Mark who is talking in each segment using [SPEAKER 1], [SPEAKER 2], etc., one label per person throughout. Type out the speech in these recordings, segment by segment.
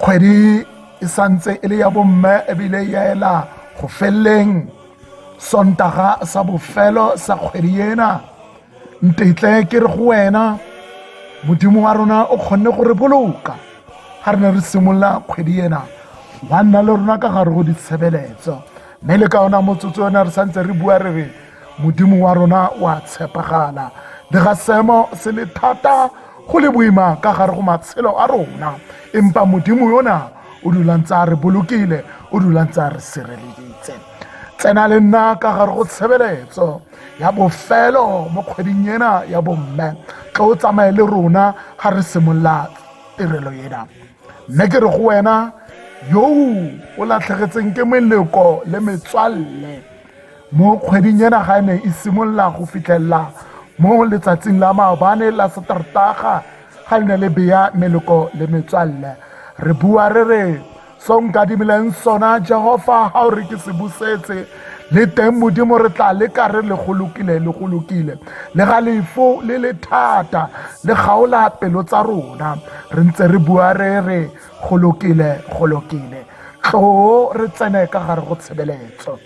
[SPEAKER 1] kgwedi e santse e le ya bomme ebile ya ela go feleleng sontaga sa bofelo sa kgwedi ena ntetle ke re go wena modimo wa rona o kgonne go re boloka ga re ne re simolola kgwedi ena wa nna le rona ka gare go ditshebeletso mme le ka ona motsotso yone re santse re bua re re modimo wa rona wa tshepagala le ga seemo se le thata Go le boima ka gare go matshelo a rona, empa Modimo yona o dulang tsa re bolokile, o dulang tsa re sireleditse. Tsena le nna ka gare go tshebeletso ya bofelo mo kgweding ena ya bomme, tlo o tsamaye le rona ga re simolola tirelo ena. Mme ke re go wena, yo o latlhegetseng ke meleko le metswalle, Mo kgweding ena ga e ne e simolola go fitlhelela mo letsatsing la maobane la Satertaga ga le ne le beya meloko le metswalle re bua re re so nkadimileng sona Jehova ga o re ke se busetse le teng modimo re tla leka re le go lokile le go lokile le ga lefo le le thata le gaola pelo tsa rona re ntse re bua re re go lokile go lokile tloo re tsene ka gare go tshebeletso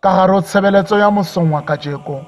[SPEAKER 1] Ka gare o tshebeletso ya mosong wa kajeko,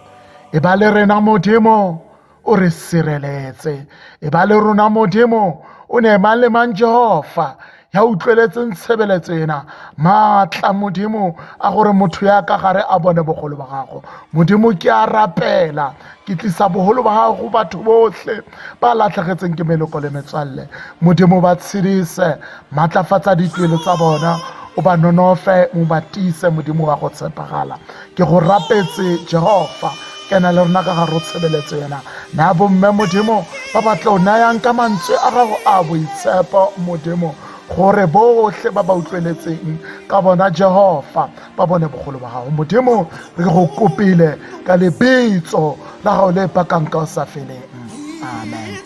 [SPEAKER 1] e ba le rena Modimo, o re sireletse. E ba le rona Modimo, o ne mang le mang Jehova ya utlweletseng tshebeletso ena maatla modimo a gore motho ya ka gare a bone bogolo ba gago modimo ke a rapela Ke tlisa boholo ba hao go batho bohle ba latlhegetseng ke meloko le metswalle. Modimo ba tshedise, maatlafatsa dituelo tsa bona, o ba nonofe, mo ba tiise Modimo wa go tshepagala. Ke go rapetse Jehova, kena le rona ka gare o tshebeletso yena. Na bomme Modimo ba ba tlo nayang ka mantswe a gago a boitshepo Modimo gore botlhe ba ba utlweletseng ka bona Jehova ba bone bogolo ba gago modimo re go kopile ka lebitso la gago le pakang ka o sa feleng amen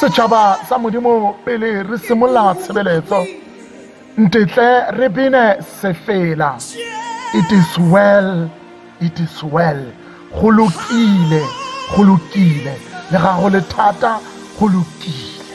[SPEAKER 1] setšhaba sa modimo pele re simolola tshebeletso ntetle re bine sefela it is well it is well go lokile go lokile le ga go le thata go lokile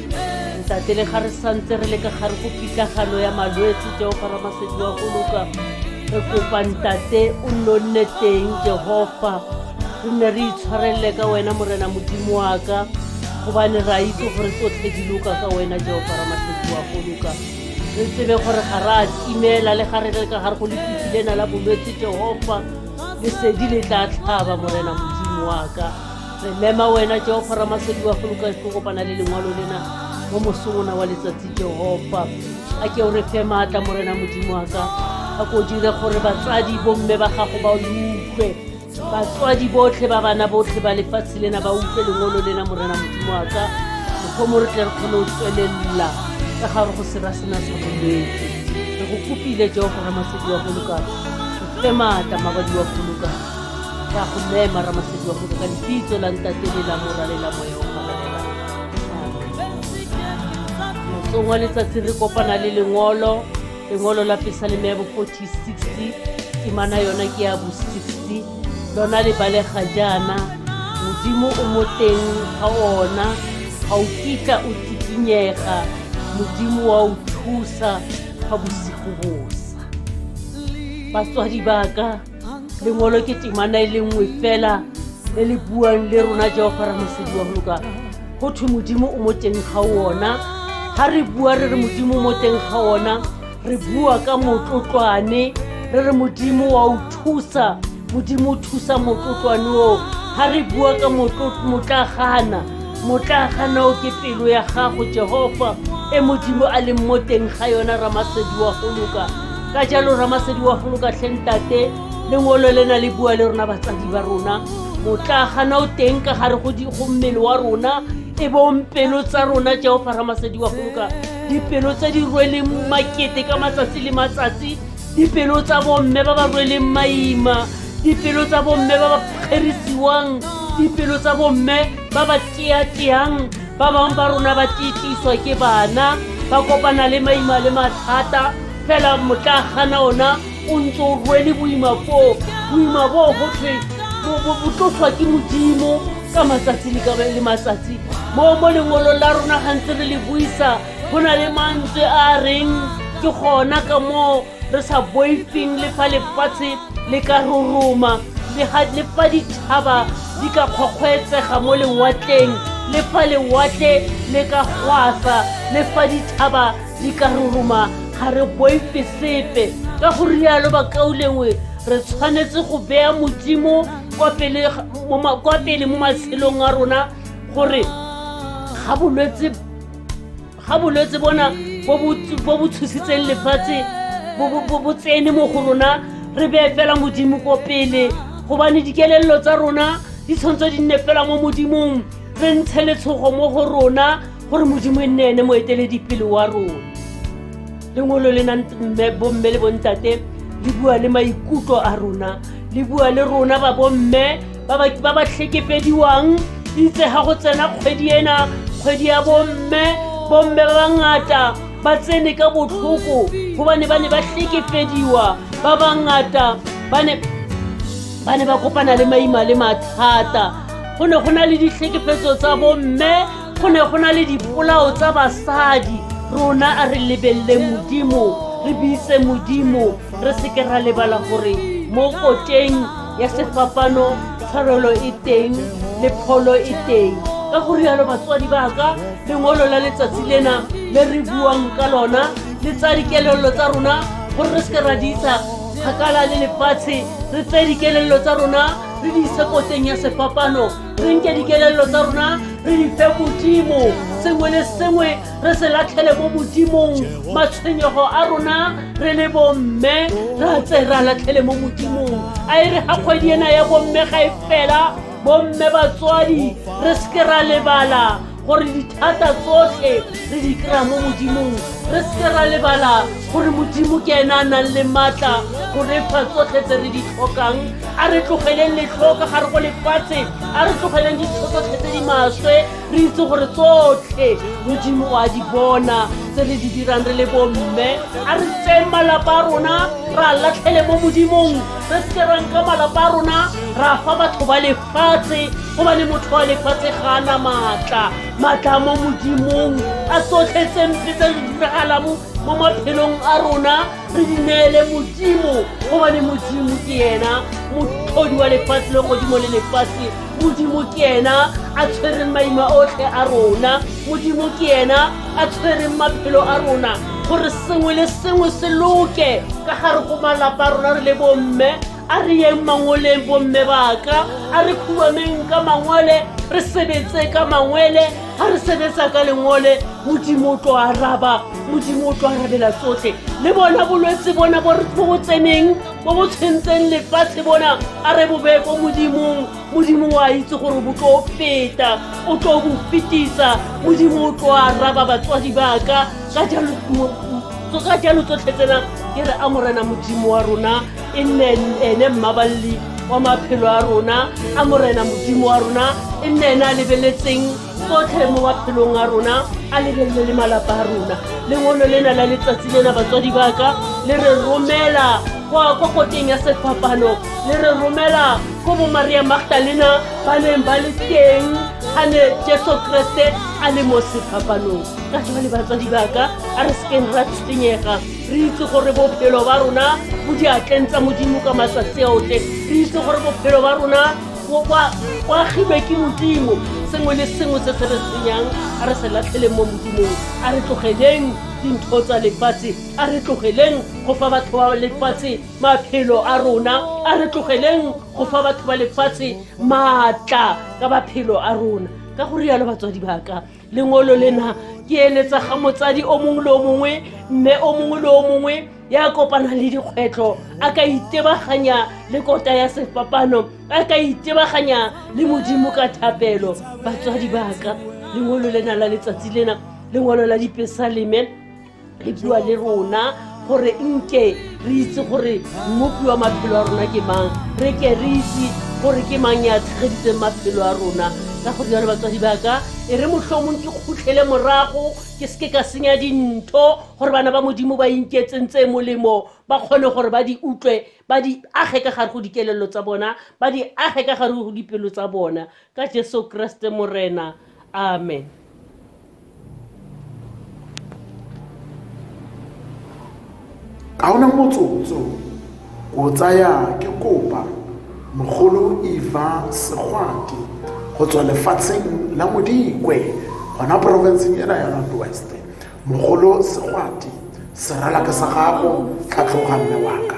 [SPEAKER 2] ntate le ga re santse re le ka gare go pitlagano ya malwetse jehofa ramasedi wa goloka re kopa ntate o nno nne teng jehofa re nne re itshwarelele ka wena morena modimo wa ka gobane re a itse gore tsotlhe di loka ka wena jehofa ramasedi wa goloka re tsebe gore ga re a timela le ga re le ka gare go lefifi lena la bolwetse jehofa lesedi le tla tlhaba morena modimo wa ka re mema wena jehofa ramasedi wa goloka go kopana le lengwalo lena mo mosongona wa letsatsi jehofa a ke o re fe maatla morena modimo wa ka a ko dire gore batsadi bomme ba gago ba utlwe batswadi botlhe ba bana botlhe ba lefatshe lena ba utlwe lengolo lena morena modimo wa ka mokgomo re tle re kgone go tswelelela ka gare go sera sena sa bolwetse re go kopile jehofa ramasedi wa goloka o fe maatla mabadi wa goloka Ka go mema Ramasedi wa Moka ka lebitso la ntate le la mora le la moya o gabelela. Mosong wa letsatsi re kopana le lengolo, lengolo la Pesaleme ya bo 4060, temana yona ke ya bo 60. Lona le balega jaana, Modimo o mo teng ga ona, ga o kitla o tikinyega, Modimo wa o thusa fa bosigo bosa. Batswadi ba ka lengolo ke temana e le nngwe fela le le buang le rona jehofa ra mosedi wa goloka go thwe modimo o mo teng ga ona ga re bua re re modimo mo teng ga ona re bua ka motlotlwane re re modimo wa o thusa modimo o thusa motlotlwane oo ga re bua ka motlagana motlagana o ke pelo ya gago jehofa e modimo a leng mo teng ga yona ramasedi wa goloka ka jalo ramasedi wa foloka tlhentate lengolo le na le bua le rona batsadi ba rona motla gana o teng ka gare go mmele wa rona e bompelo tsa rona jehofa ramasedi wa foloka dipelo tse di rweleng makete ka matsatsi le matsatsi dipelo tsa bomme ba ba rweleng maima dipelo tsa bomme ba ba kgerisiwang dipelo tsa bomme ba ba teateang ba bangwe ba rona ba titiswa ke bana ba kopana le maima le mathata fela motla gana ona o ntse o rwele boima boo boima boo go thwe botloswa ke modimo ka matsatsi le ka le matsatsi mo mo lengwolong la rona gantse re le buisa go na le mantswe a reng ke gona ka moo re sa boifeng le fa lefatshe le ka roroma le fa ditšhaba di ka kgokgwetsega mo lewatleng le fa lewatle le ka gwasa le fa ditšhaba di ka roroma ga re boife sepe ka go rialo bakaulengwe re tshwanetse go bea modimo kwa pele mo matshelong a rona gore ga bolwetse ga bolwetse bona bo bo tshositseng lefatshe bo tsene mo go rona re beye fela modimo ko pele gobane dikelelelo tsa rona di tshwantswe di nne fela mo modimong re ntshe letshogo mo go rona gore modimo e nne ene moeteledipele wa rona lengolo le nang bomme le bontate le bua le maikutlo a rona le bua le rona ba bomme ba ba tlhekepediwang itse ga go tsena kgwedi ena kgwedi ya bomme bomme ba bangata ba tsene ka botlhoko gobane ba ne ba tlhekepediwa ba bangata ba ne ba ne ba kopana le maima le mathata go ne go na le ditlhekefetso tsa bomme go ne go na le dipolao tsa basadi rona a re lebelele modimo re buise modimo re seke ra lebala gore mo koteng ya sefapano tshwarelo e teng le pholo e teng ka go rialo batswadi ba ka lengolo la letsatsi lena le re buang ka lona le tsa dikelelelo tsa rona gore re seke ra di isa kgakala le lefatshe re tse dikelelelo tsa rona re di ise koteng ya sefapano re nke dikelelelo tsa rona re di fe modimo sengwe le sengwe re se latlhele mo modimong matshwenyego a rona re le bomme ra tse ra latlhele mo modimong a e re ga kgwedi ena ya bomme ga e fela bomme batswadi re seke ra lebala gore dithata tsotlhe re di kry-a mo modimong re seke ra lebala gore modimo ke ena a nang le maatla go re pha tsotlhe tse re di tlhokang a re tlogeleng letlho ka gare go lefatshe a re tlogeleng ditho tsotlhe tse di maswe re itse gore tsotlhe modimo wa di bona tse re di dirang re le bomme a re tseng malapa a rona ra latlhele mo modimong re seke ra nka malapa a rona ra fa batho ba le fatshe gobane motho wa lefatshe ga a na maatla maatla mo modimong a sotlhe tse mpe tse di diragala mo maphelong a rona re di neele modimo gobane modimo ke yena motlhodi wa lefatshe le godimo le lefatshe modimo ke yena a tshwereng maima otlhe a rona modimo ke yena a tshwereng maphelo a rona gore sengwe le sengwe se loke ka gare go malapa a rona re le bomme a re yeng mangoleng bomme baka a re khuameng ka mangole re sebetse ka mangwele ga re sebetsa ka lengole modimo o tlo araba modimo o tlo arabela tsotlhe le bona bolwetse bona bo bo tseneng bo bo tshwentseng lefatshe bona a re bobeye ko modimong modimo o a itse gore bo tlo feta o tlo bo fetisa modimo o tlo araba batswadi baka ka jalo tsotlhe tsena ke re a morena modimo wa rona e nne ene mmaballi wa maphelo a rona a morena modimo wa rona e nne ene a lebeletseng tsotlhe mo maphelong a rona a lebelele le malapa a rona lengolo lena la letsatsi lena batswadi baka le re romela kwa kokoteng ya sefapano le re romela ko bo maria magdalena ba neng ba le teng ga ne jesu kreste a le mo sefapanong ka jale batswadi baka a re sekeng ra tshwenyega re itse gore bophelo ba rona bo diatleng tsa modimo ka maswatsi otlhe re itse gore bophelo ba rona boagilwe ke modimo sengwe le sengwe se se re senyang a re se latlheleng mo modimong a re tlogeleng dintho tsa lefatshe a re tlogeleng go fa batho ba lefatshe maphelo a rona a re tlogeleng go fa batho ba lefatshe maatla ka maphelo a rona ka go rialo batswadi baka lengolo lena ke eletsa ga motsadi o mongwe le o mongwe mme o mongwe le o mongwe ya kopana le dikgwetlho a ka itebaganya le kota ya sefapano a ka itebaganya le modimo ka thapelo batswadi baka lengolo lena la letsatsi lena lengolo la dipesaleme le bua le rona gore nke re itse gore mmopi wa maphelo a rona ke mang re ke re itse gore ke mang ya tshegeditseng maphelo a rona ka go jalo batswadi baka e re motlhomong ke khutlhele morago ke seke ka senya dintho gore bana ba modimo ba inketseng tse molemo ba kgone gore ba di utlwe ba di age ka gare go dikelelo tsa bona ba di age ka gare go dipelo tsa bona Ka Jesu Kreste Morena. Amen.
[SPEAKER 1] ga ona motsotso o tsaya ke kopa mogolo eva segwati go tswa lefatsheng la modikwe gona porofenseng ena ya north west mogolo segwati serala ke sa gago tlhatlhoga mme waka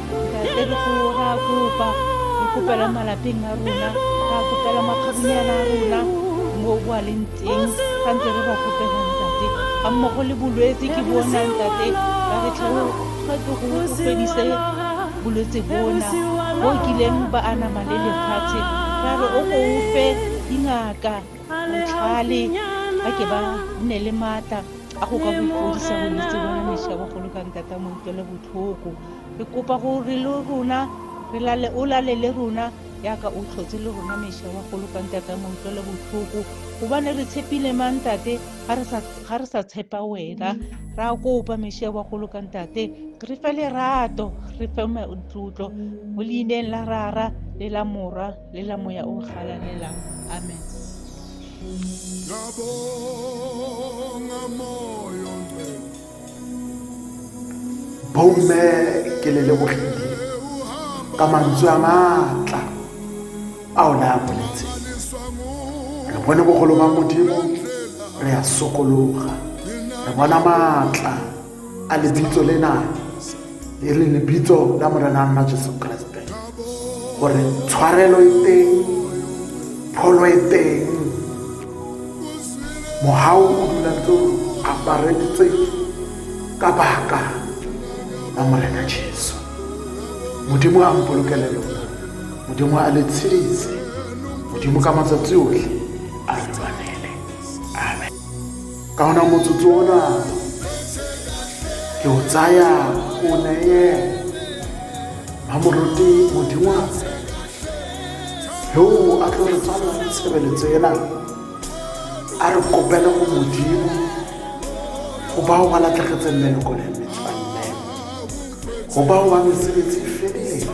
[SPEAKER 3] Ntate re go ra kopa re kopela malapeng a rona ra kopela makgabunyana a rona mo bo a leng teng ga ntse re ba kopela ntate ga mmogo le bolwetse ke bona ntate ba re tlhelo ga ke go fedise bolwetse bona bo kileng ba anama le lefatshe ra re o ko o fe dingaka botlhale ba ke ba nne le maatla a go ka bofodisa bolwetse bona mešabogolo ka ntata mo utlwele botlhoko Re kopa gore le rona re lale o lale le rona yaka o tlhotse le rona mesha wa golo ka ntate mo utlwele botlhoko gobane re tshepile mang ntate ga re sa tshepa wena ra kopa mesha wa golo ka ntate re fe lerato re fe tlotlo mo leineng la rara le la morwa le la moya o galalela amen Ngabonga moyo
[SPEAKER 1] Bomme ke le lebogile ka mantswe a maatla a o ne a boletse re bone bogolo ba modimo re a sokologa re bona maatla a lebitso lena e re lebitso la morena nna jesu kreste gore tshwarelo e teng pholo e teng mohau o dula ntse o apareditse ka baka la morena jesu modimo a mpolokele lona modimo a le tshedise modimo ka matsatsi otlhe a lwanele amen ka ona motsotso ona ke o tsaya o neye mamoruti modimo yo a tlo re tswala tshebeletso ena a re kopele go modimo go bao ba latlhegetseng meloko le metswalle go bao ba mesebetsi e fedileng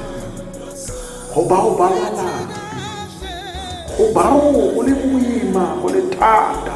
[SPEAKER 1] go bao ba lwalang go bao go le boima go le thata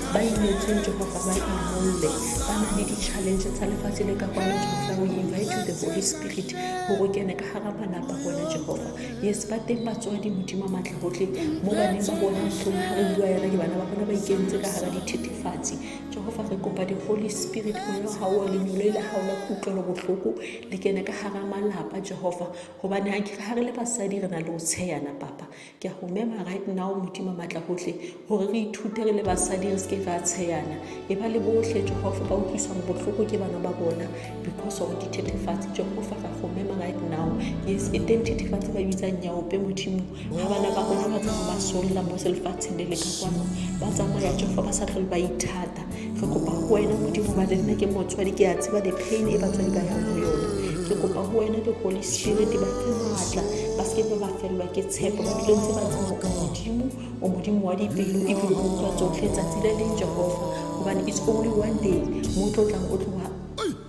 [SPEAKER 4] ba imetsweng jehofa ba imolole ba na le di-challenge tsa lefatshe le ka kwano jehofa o invite the holy spirit gore o kene ka gara malapa bona jehofa yes ba teng batswadi modimo maatla gotlhe mo baneng ba bona motlhong ga re bua yana ke bana ba bona ba ikentse ka gara dithethefatsi jehofa re kopa di-holy spirit moya ga o lenyolo e le ga ona kutlwelo botlhoko le kene ka gara malapa jehofa gobane ga re le basadi re na le o tsheyana papa Ke a go mema right now modimo matla gotlhe gore re ithute re le basadi re seke ra tsheyana e ba le botlhe jehofa ba utlwisang botlhoko ke bana ba bona because of dithethefatsi jehofa ra go mema right now yes e teng thethefatsi ba bitsang nyaope modimo ga bana ba rona ba tlogo ba solola mo selefatsheng le le ka kwano ba tsamaya jehofa ba sa tlhole ba ithata re kopa go wena modimo gobane nna ke motswadi ke a tseba di-pain e batswadi ba yang go yone ke kopa go wena le holy spirit ba fe maatla ba seke ba ba felelwa ke tshepo ba dilo tse ba tsebo o modimo o modimo wa dipelo ebile o utlwa tsotlhe tsatsi le leng jehofa gobane it's only one day mo tlo tlang o tlo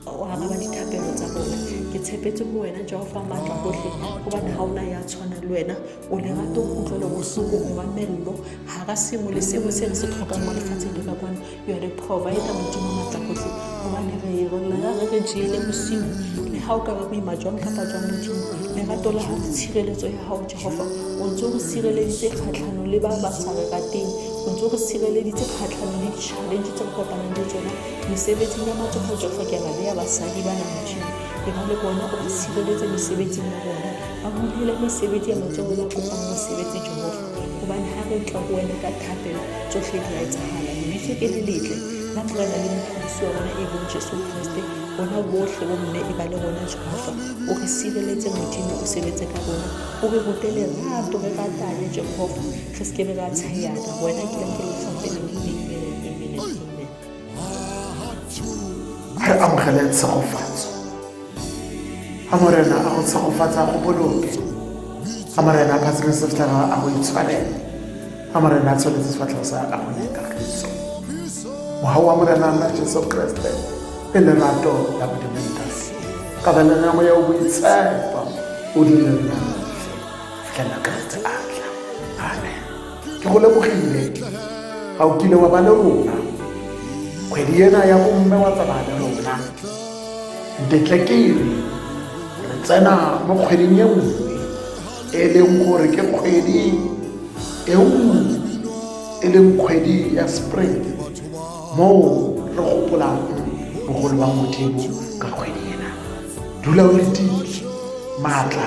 [SPEAKER 4] o araba dithapelo tsa bona ke tshepetse go wena jehofa maatla gotlhe gobane ga ona ya tshwana le wena o lerato kutlwelobotlhoko o mamello ga ka sengwe le sengwe se re se tlhokang mo lefatsheng le ka kwane you are the provider modimo matlakotlhe gobane re rona re re jeele bosiu le ga o ka ba boima jwang kapa jwang modimo lerato la gago tshireletso ya gago jehofa o ntse o re sireleditse kgatlhanong le ba ba sa re rateng o ntse o re sireleditse kgatlhanong le di-challenge tse re kopanang le tsona mesebetsing ya matsogo jehofa ke na le ya basadi ba na modimo ke na le bona o re sireletse mesebetsing ya bona a go dira mesebetsi ya matsogo la kopang mosebetsi jehofa gobane ga re tla go wena ka thapelo tsotlhe di a etsagala lebiso ke le letle la morena le mophedisi wa rona e bong jesu kriste bona botlhe bo mme e ba le rona jehofa o re sireletse modimo o sebetse ka rona o re rute lerato re ratane jehofa re se ke be ra tsheyana wena ke la ke letlhafele modimo
[SPEAKER 1] re amogele tshegofatso a morena a go tshegofatsa go boloke a morena a phatsime sefatlhego a go itshwarele a morena a tsholetse sefatlhego sa a go nekagiso mogau wa morena nna jesu kreste e lerato la bodimoditase ka balena moya o boitshepo o dile nna fela ka tse atla amen ke go lebogile ga o kile wa ba le rona kgwedi ena ya bomme wa tsamaya le rona ntetlekele re tsena mo kgweding e nngwe e leng gore ke kgwedi e nngwe e leng kgwedi ya spring moo re gopolang bogolo ba modimo ka kgwedi ena dula o letile maatla